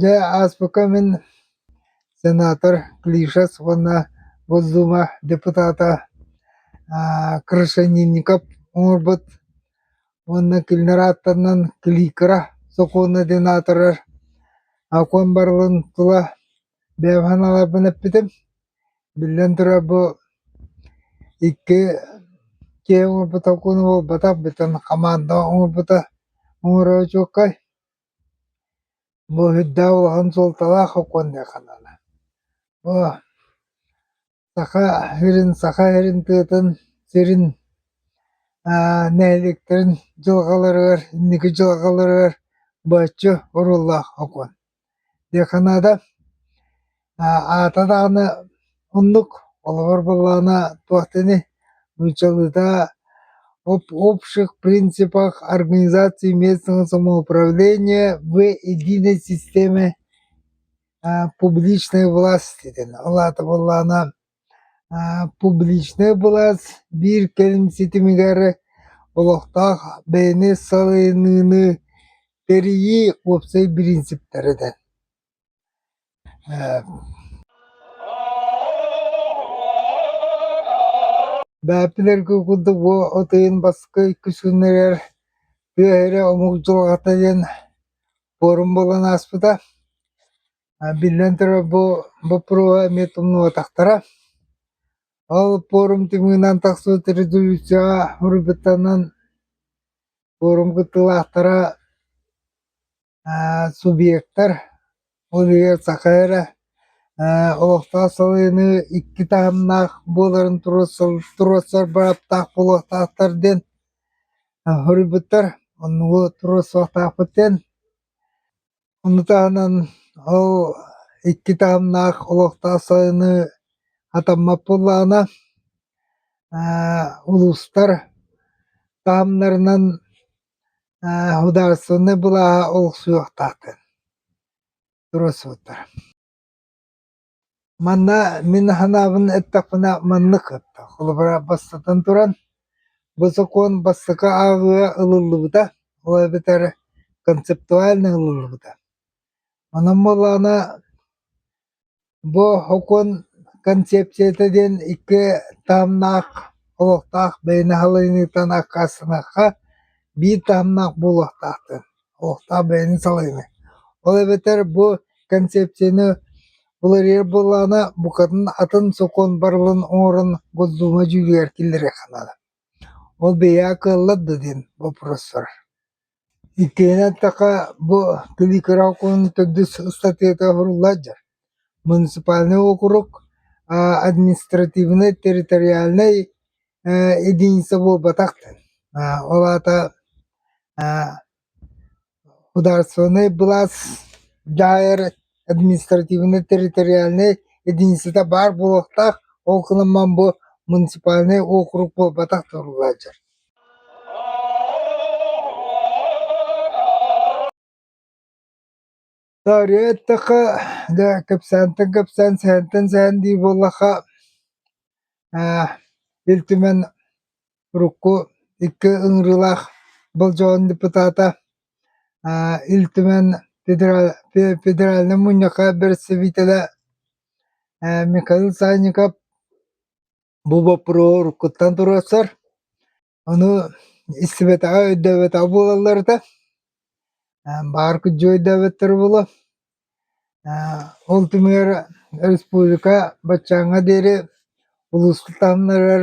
Дьэ ааспыкка мин сенатор Клишес уонна Госдума депутата Крашенинников оҥорбут уонна кинилэр ааттарынан Кликра сокуона диэн аатырар окуон барылын тула бэйэм санааларбын эппитим. Биллэн турар бу икки киһи оҥорбут окууна буолбатах, бүтүн хамаанда оҥорбута оҥоро очуоккай. Бу үрдээх улахан суолталаах сокуон диэн санаана. Бу Саха сирин Саха сирин тыатын сирин аа нэһилиэктэрин дьылҕаларыгар инники дьылҕаларыгар бачча оруоллаах сокуон диэн санаата. Аата даҕаны оннук, холобур буоллаҕына туох да ини нууччалыыта об общих принципах организации местного самоуправления в единой системе публичной власти диэн. Ол аата буоллаҕына публичная былаас биир кэлим ситимигэр олохтоох бэйэни салайыныыны тэрийии уопсай бириинсиптэрэ диэн. Бэбтилэргэ курдук бу атыйын баска иккис күннэригэр тыа эрэ омук дьылҕата диэн пуорум буолан ааспыта. Биллэн турар бу боппуруоһа эмиэ тумнубатахтара. Ол пуорум тымыынан тахсыбыт резолюцияҕа уруйбуттанан пуорум кыттыылаахтара субъектар, ол иһигэр саха эрэ олохтоох салайыныы икки таһымнаах буоларын туруорсар бырааптаах буолуохтаахтар диэн хоруйбуттар. Оннугу туруорсуохтаахпыт диэн. Ону таһынан ол икки таһымнаах олохтоох салайыныы атаммат буоллаҕына улуустар таһымнарынан Судаарыстыбаннай былааһа олохсуйуохтаахтын туруорсубуттара. Манна мин санаабын эттэхпинэ маннык этэ. Холобура, бастатан туран, бу сокуон бастакы ааҕыыга ылыллыбыта, ол эбэтэр концептуально ылыллыбыта. Онон буоллаҕына Бу һукун концепцията диэн икки таһымнаах олохтоох бэйэ наһалыанньытын аккаастанахха биир таһымнаах буолуохтаахтар, олохтоох бэйэни салайыныы. Ол эбэтэр бу концепцияны уларыйар буоллаҕына букатын атын сокуон барылын оҥорон Госдуума дьүүлүгэр киллэриэххэ наада. Ол бэйэҕэ кыаллар да диэн боппуруостар. Иккиһинэн эттэххэ, бу Күлүү кыра округунан төрдүс ыстатыйата суруллааччы. Муниципальнай округ административнай территориальнай единица буолбатах да. Ол аата Судаарыстыбаннай былаас дьаайар Административнай территориальнай единицата баар буолуохтаах, ол гынан баран бу муниципальнай уокурук буолбатах турулааччы Таарыйа эттэхэ, дьэ, кэпсээнтэн кэпсээн, сэһэнтэн сэһэн дии буоллахха, Ил Түмэн урукку икки ыҥырыылаах болдьоҕун депутата, Ил Түмэн федеральнай мунньахха бэрэстэбиитэлэ Михаил Санников бу боппуруоһу уруккуттан туруорсар, ону истибэтэҕэ, өйдөөбөтөҕө буолаллар этэ, баар күдьү өйдөөбөттөрө буолуо. Ол түмүгэр республика баччааҥҥа диэри улууска таһымнарыгар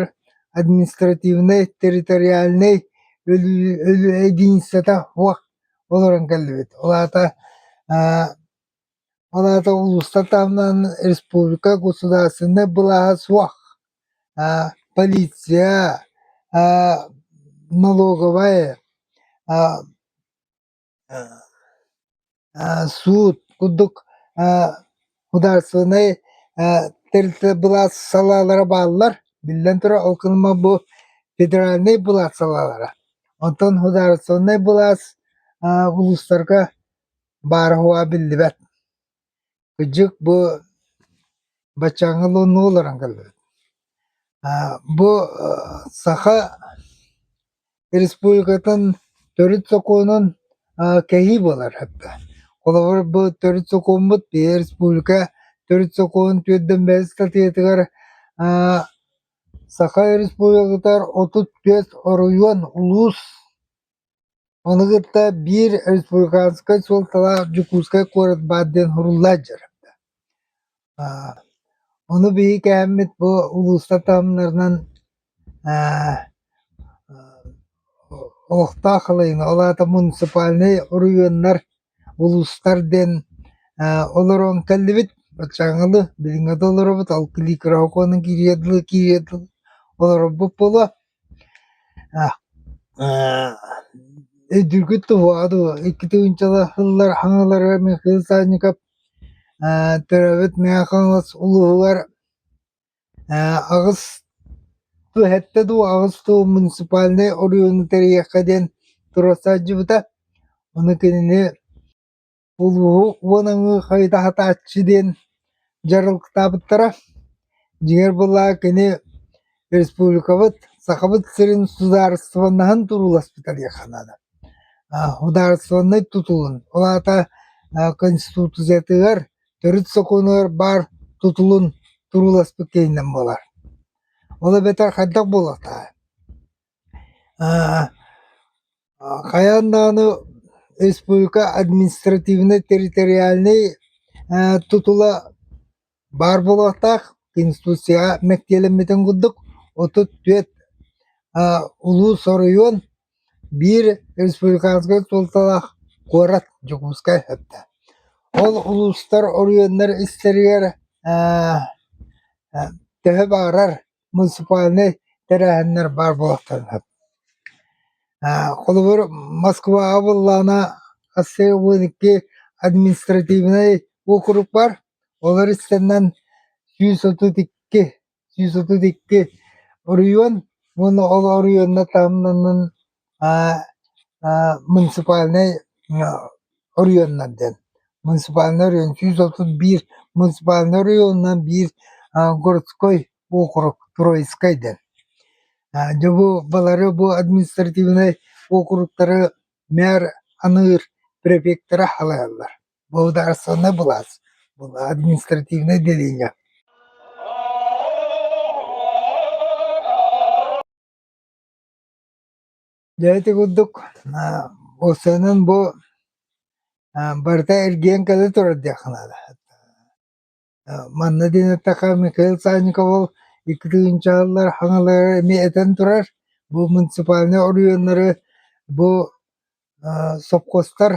административнай, территориальнай единицата суох олорон кэллибит. Ол аата ол аата улуустар таһымынан республика государственнай былааһа суох, полиция, налоговай суут курдук судаарыстыбаннай тэрилтэ былаас салаалара бааллар. Биллэн турар, ол кэнниттэн бу федеральнай былаас салаалара. Оттон судаарыстыбаннай былаас улуустарга баара-хуһа биллибэт. Кырдьык бу баччааҥҥы луннуу олорон кэллибит. Бу Саха Республикатын төрүт сокуонун кэһии буолар атта. Холобур, бу төрүт сокуоммут биһиги республика төрүт сокуонун түөртөн бэс статьятыгар Саха Республикатыгар отут түөрт оройуон, улуус Ону кытта биир республиканскай суолталаах Дьокуускай куорат баар диэн суруллааччы дьарыктаах. Аа, ону биһиги кээммит бу улууста таһымнарынан аа, олохтоох халайына, ол аата муниципальнай оройуоннар, улуустар диэн аа, олорон кэллибит. Баччаҥылы билиҥҥи да олоробут, ол кириэкирэ сокуонун кириэ дылы кириэ дылы олорорбут буолуо. Өйдүүргүт туваа дуу, иккити уончалаһыллар хаҥалары эмиэ Кыыл Саанньыкап төрөөбүт Мэҥэ Хаҥалас улууһугар аҕыс түһэттэ дуу, аҕыс дуу муниципальнай оройуону тэрийиэххэ диэн туруорсааччыбыта. Ону кинини улууһу уон аҥыы хайытаһытааччы диэн дьарыктаабыттара. Дьиҥэр былаа кини республикабыт Сахабыт сирин судаарыстыбаннаһын турууласпыта диэххэ наада. А, судаарыстыбаннай тутулун, ол аата а, Конституциятыгар, төрүт сокуонугар баар тутулун турууласпыт кэннинэн буолар. Ол эбэтэр хайдах буолуохтаах? А, Хайаан даҕаны республика административнай территориальнай ээ тутула баар буолуохтаах Конституцияҕа мэктиэлэммитин курдук отут түөрт аа улуус оройуон биир республиканскай суолталаах куорат Дьокуускай эбитэ. Ол улуустар оройуоннар истэригэр ээ төһө баҕарар муниципальнай тэрээһиннэр баар буолуохтарына. Холобур, Москваҕа буоллаҕына, ассеобыанньыкки административнай уокурук бар. Олор истэннэн сүүс отут икки, сүүс отут икки оройуон уонна ол оройуонна таһымнанан муниципальнай оройуоннар диэн муниципальнай оройуон сүүс отут биир муниципальнай оройуонунан биир городской округ троицкай диэн былары бу административнай округтары мэр аныыр префектэрэ салайаллар благодарственнай былаас административнай деление Дьэ ити курдук бу сыанан бу барыта эргийэн кэлэ турар диэххэ наада. Манна диэн эттэххэ Михаил Санникову икки тыһыынчалар хаҥалары эмиэ этэн турар. Бу муниципальнай оройуоннары бу Сопхуостар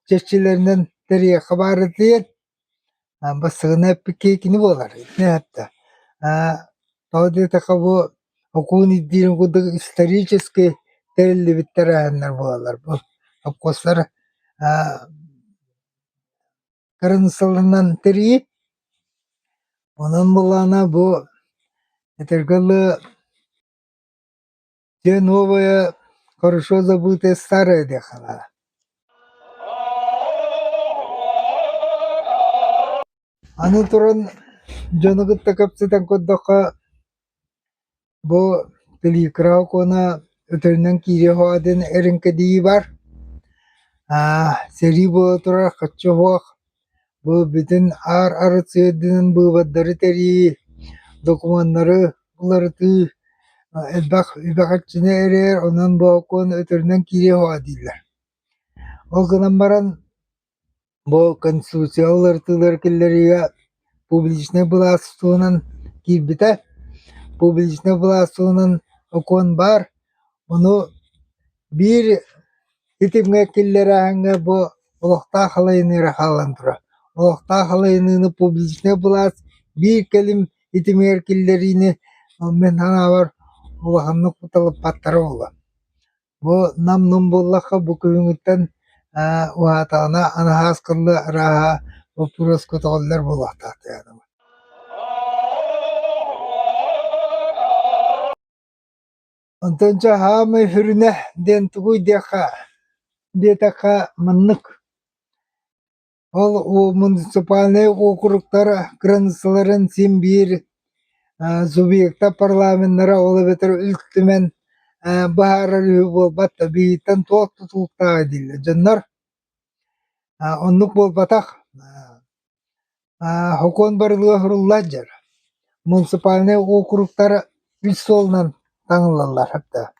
чэрчилэринэн тэриэхэ баара диэн бастыгына эппикиэкини буолар тоҕо диэтэххэ бу окуун ирдиирин курдук исторически тэриллибит тэрээһиннэр буолаллар бу сопхуостар кырын сылынан тэрийи онон былаана бу этэргэ дылы Дьэ новое, хорошо забытое старое дехала Аны туран дьону кытта кэпсэтэн көрдөххө бу телегра окуона өтөрүнэн киириэ ходин эриҥкэдии бар аа сэрии буола турар хаччы оһуох Бу бүтүн аар арыт-сыардыынын быыбардары тэрийии, докумуоннары уларытыы элбэх үбэҕэччини эрийэр, онон боокуон өтөрүнэн киириэ суоҕа дииллэр. Ол гынан баран бу Конституцияҕа уларытыылары киллэриигэ публичнай былаас туһунан киирбитэ. Публичнай былаас туһунан окуон баар, ону Биир итимҥэ киллэрээһиҥҥэ бу олохтоох халайыныыра хаалан турар. Олохтоох халайыныыны публичнай былаас биир кэлим итимигэр киллэриини мин санаабар улаханнык уталыппаттара буолуо. Бу нам-нум буоллахха бу күһүҥҥүттэн ээ уһаатаҕына анаһаас кылы арааһа боппуруос көтөҕүллэр буолуохтаах диэбитим. Онтон дьэ «Аамай сүрүнэ» диэн тугуй диэххэ, диэтэххэ маннык: ол муниципальнай уокуруктар кыраныыссаларын син биир субъекта парламеннара ол эбэтэр Ил Түмэн быһаарар үһү буолбат да, билиниттэн туох да тутулуктааҕа дииллэр дьоннор. Оннук буолбатах. Сокуон барылыга суруллааччы муниципальнай уокуруктар үс суолунан таҥыллаллар да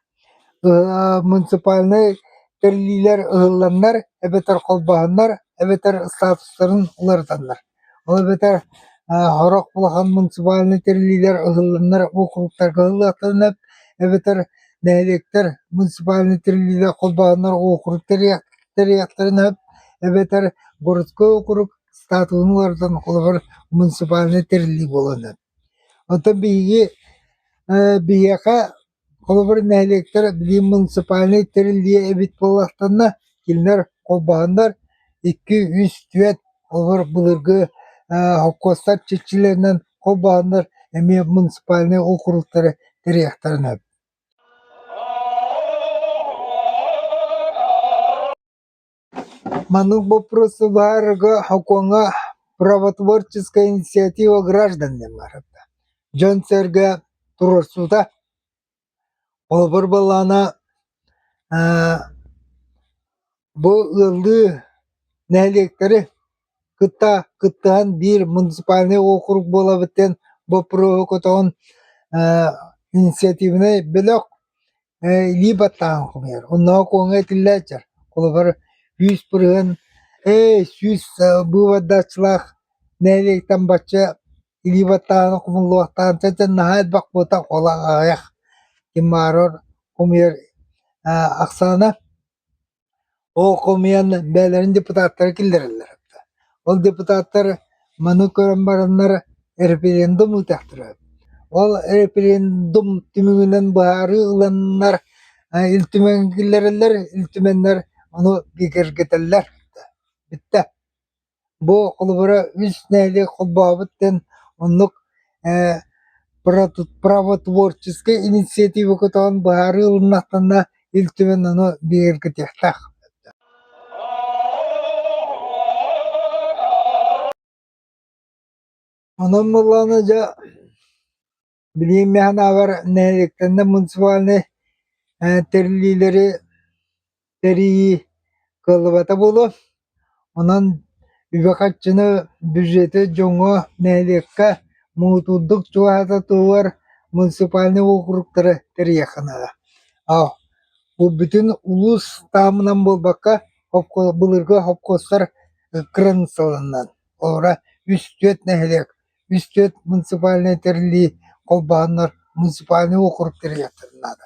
муниципальнай тэриллиилэр ыһылланнар эбэтэр холбоһоннор эбэтэр статустарын уларытаннар ол эбэтэр сорох улахан муниципальнай тэриллиилэр ыһылланнар уокуруктарга ылыахтарын сөп эбэтэр нэһилиэктэр муниципальнай тэриллиилэр холбоһоннор уокурук тэрийиэхтэрин сөп эбэтэр городской уокурук статуһун уларытан холобур муниципальнай тэриллии буолуон сөп. Оттон биһиги э, биһиэхэ холобур нэһилиэктэр билим муниципальнай тэриллиэ эбит буоллахтанна кинилэр холбоһоннор икки үс түөрт холобур былыргы э, холкуостар чичилэринэн холбоһоннор эмиэ муниципальнай округтары тэрийэхтэрин сөп. Маны боппуруостуулларга ХОКуоҥҥа правотворческай инициатива гражданина баарда, дьон-сэргэ туруорсуута. Холобур буоллаҕына, бу ыаллыы нэһилиэктэри кытта кыттыһан биир муниципальнай уокурук буолабыт диэн боппуруоһу көтөҕөн инициативнай бөлөх Ээ, илии баттааһын хомуйар, оннооҕу куоҥҥа итиллээччи, холобур, күүс-пырыһын, «Эй, сүүс быыбардааччылаах нэһилиэктэн бачча илии баттааһыны хомуллуохтаан чаччан наһаа элбэх буолтах ол аҕыйах» ким баарар хомуйар ахсаана Ол хомуйан бэйэлэрин депутаттара киллэрэллэр эбитэ. Ол депутаттар маны көрөн бараннар референдум ыытыахтара эбит. Ол референдум түмүгүнэн быһаарыы ыланнар э, Ил Түмэҥҥэ киллэрэллэр, Ил Түмэннэр ону киргэтэллэр. Бүттэ. Бу холобура үс нээли холбообут диэн оннук ээ правотворческай инициатива көтөҕөн быһаарыы ылыннахтарына Ил Түмэн ону бигэргэтиэхтээх Онон буоллаҕына дьэ Билигин механабар нэһилиэктэннэ муниципальнай тэриллиилэри тэрийии кыаллыбата буолуо. Онон үбэ-харчыны бюджеты дьоҥҥо, нэһилиэккэ муҥутуурдук чугаһата туһугар муниципальнай уокуруктары тэрийиэххэ наада. Аһ бу бүтүн улуус таһымынан буолбакка былыргы хопкуостар кыраныыссаларынан олорро үс-түөрт нэһилиэк Үс түөрт муниципальнай тэриллии холбоһоннор муниципальнай уокурук тэрийиэхтэрин наада.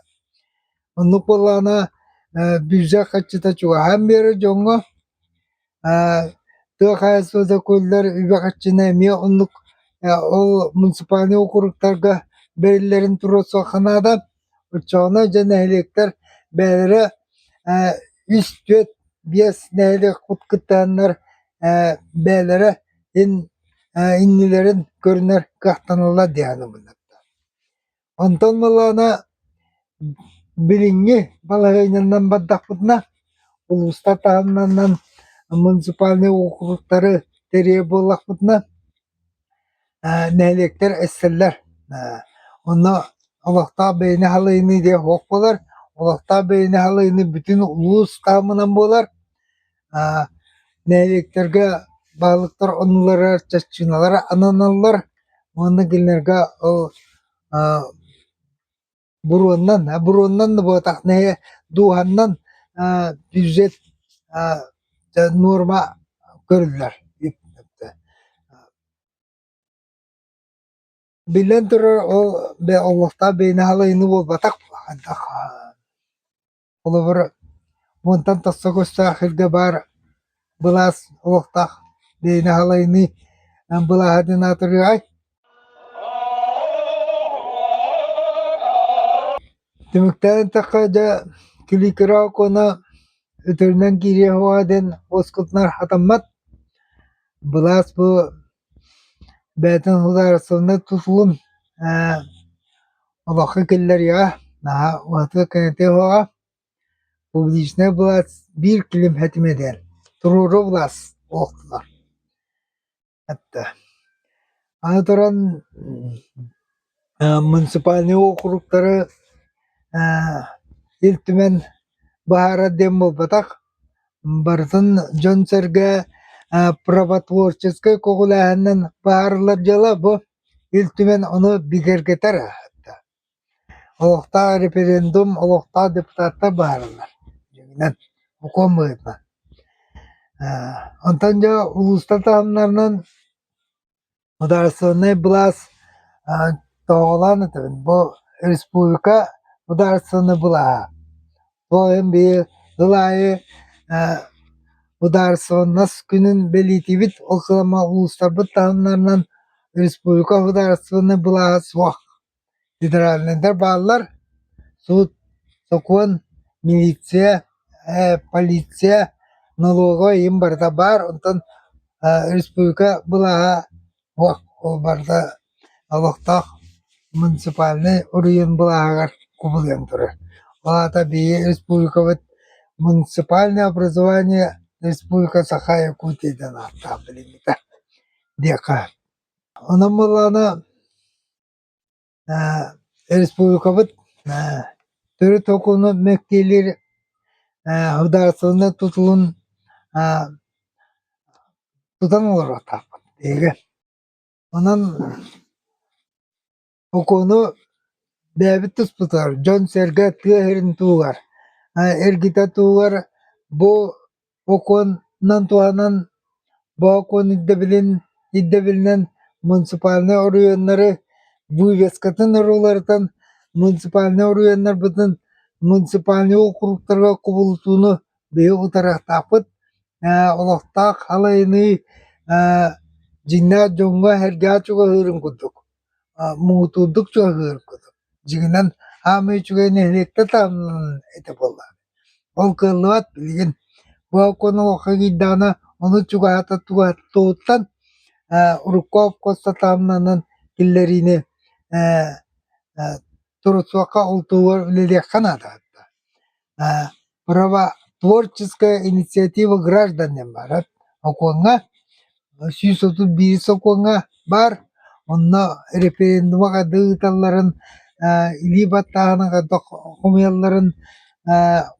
Оннук буоллаҕына э, бюджет хаччыта чугаһаан биэрэр дьоҥҥо э, тыа хаһаайыстыба сөкүллэр үбэ харчыны эмиэ оннук э, ол муниципальнай уокуруктарга бэриллэрин туруорсуохха наада. Оччоҕуна дьэ нэһилиэктэр бэйэлэрэ ээ үс, түөрт, биэс нэһилиэк кыттыһаннар ээ бэйэлэрэ ин ээ иннилэрин көрүнэр кыахтаныллар диэххэ быһаарда. Онтон маллаана билиҥҥи балаһыанньанан бардахпытына улуустар таһымнарынан муниципальнай уокуруктары тэрийэ буоллахпытына нэһилиэктэр эстэллэр онно олохтоох бэйэни халыйыныы диэн оһох буолар олохтоох бэйэни халыйыныы бүтүн улуус таһымынан буолар нэһилиэктэргэ баһылыктар оннулара чаччыналара ананаллар уонна кинилэргэ ол буруоннан, а буруоннан да буотах нэһэ дууһаннан аа бюджет аа норма көрүллэр Биллэн турар ол олохтоох бэйэни халайыныы буолбатах Холобур, мунтан тахса көстөөх сиргэ баар былаас олохтоох бэйэни халайыныы былааһатын атырыай? Түмүктээн эттэххэ, дьэ, күлүү-көрө окуона өтөрүнэн киириэх уоҕа диэн уоскутунар хатаммат. Былаас бу Бэйэтин судаарыстыбаннай тутулун ээ олоххо киллэриэҕэ, наһаа уратыга кэҥэтиэҕэ. Публичнай былаас биир килим этимэдэр, туруору былаас буолтулар. Аны туран муниципальнай уокуруктары Ил Түмэн баһаарар диэн буолбатах. Барытын дьон-сэргэ правотворческай көҕүлээһининэн баһаарыллар дьыала бу. Ил Түмэн ону бигэргэтэр аһатта. Олохтоох референдум, олохтоох депутаттар баһаарыллар. Дьиҥинэн, укуом быһыытынан. Онтон дьэ улуустар таһымнарынан Мударственнай былаас тоҕолоон этэбин бу республика мударственнай былааһа. Бу ойон биир ыл аайы Мударственнас күнүн бэлиэтиибит, ол кыламма улуустарбыт таһымнарынан республика мударственнай былааһа суох. Федеральнайдар бааллар, суут, сокуон, милиция, ээ полиция, налоговай им барыта баар, онтон республика былааһа ол барыта олохтоох муниципальнай уруйун былааһыгар кубулуйан турар. Ол аата биһиги республикабыт муниципальное образование Республика Саха Якутия диэн ааттаах билиммитэ диэххэ. Онон буоллаҕына Республикабыт төрүт окуну мэктиэлиир судаарыстыбаннай тутулун тутан олороохтоохпут биһиги. Онон окуну бэйэбит туспутугар, дьон-сэргэ тыа иһин туһугар, эргитэ туһугар бу Бокуонунан туһанан боокуон ирдэбилин ирдэбилинэн муниципальнай оройуоннары вывескатын уларытан муниципальнай оройуоннарбытын муниципальнай уокуруктарга кубулутууну быйыл утарыахтаахпыт. Олохтоох халайыныы дьиҥнээх дьоҥҥо эргэҕэ чугаһыырын курдук муҥутуурдук чугаһыырын курдук. Дьиҥинэн, хаамыы үчүгэй нэһилиэктэр таһымнанан этэ буоллаҕа. Ол кыаллыбат, билигин бу окуона окко киирдэҕинэ ону чугаһата туһаттыбыттан ээ урукку окко сатаамнанан киллэриини ээ ээ турусуохха ултуур үлэлиэххэ наада да ээ правотворческая инициатива граждан диэн баарар окуоҥҥа сүүс отут биир сокуоҥҥа баар. Онно референдума да ыыталларын, илии баттааһыны хомуйалларын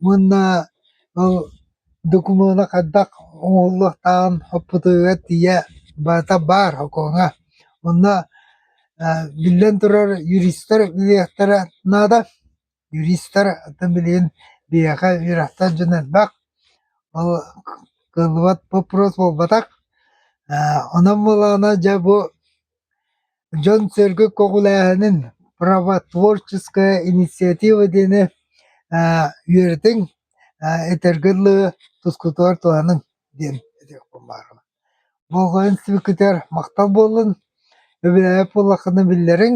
уонна ол докумуона хайдах оҥоһуллуохтааҕын оппутугар тиийэ барыта баар окооҥҥо. Онно биллэн турар, юристар ылыахтара наада. Юристар атын билигин биһиэхэ үөрэхтээх дьон элбэх, ол кыллыбат боппуруос буолбатах. Э, онон буолаана дьэ бу дьон-сэргэ көҕүлээһинин правотворческая инициатива диэни э, үөрэтиҥ, э, этэргэ дылы тускутугар туһаныҥ диэн этиэхпин баарым. Болҕойон сибикитигэр махтал буоллун, өбүлээбит буоллаххына биллэриҥ.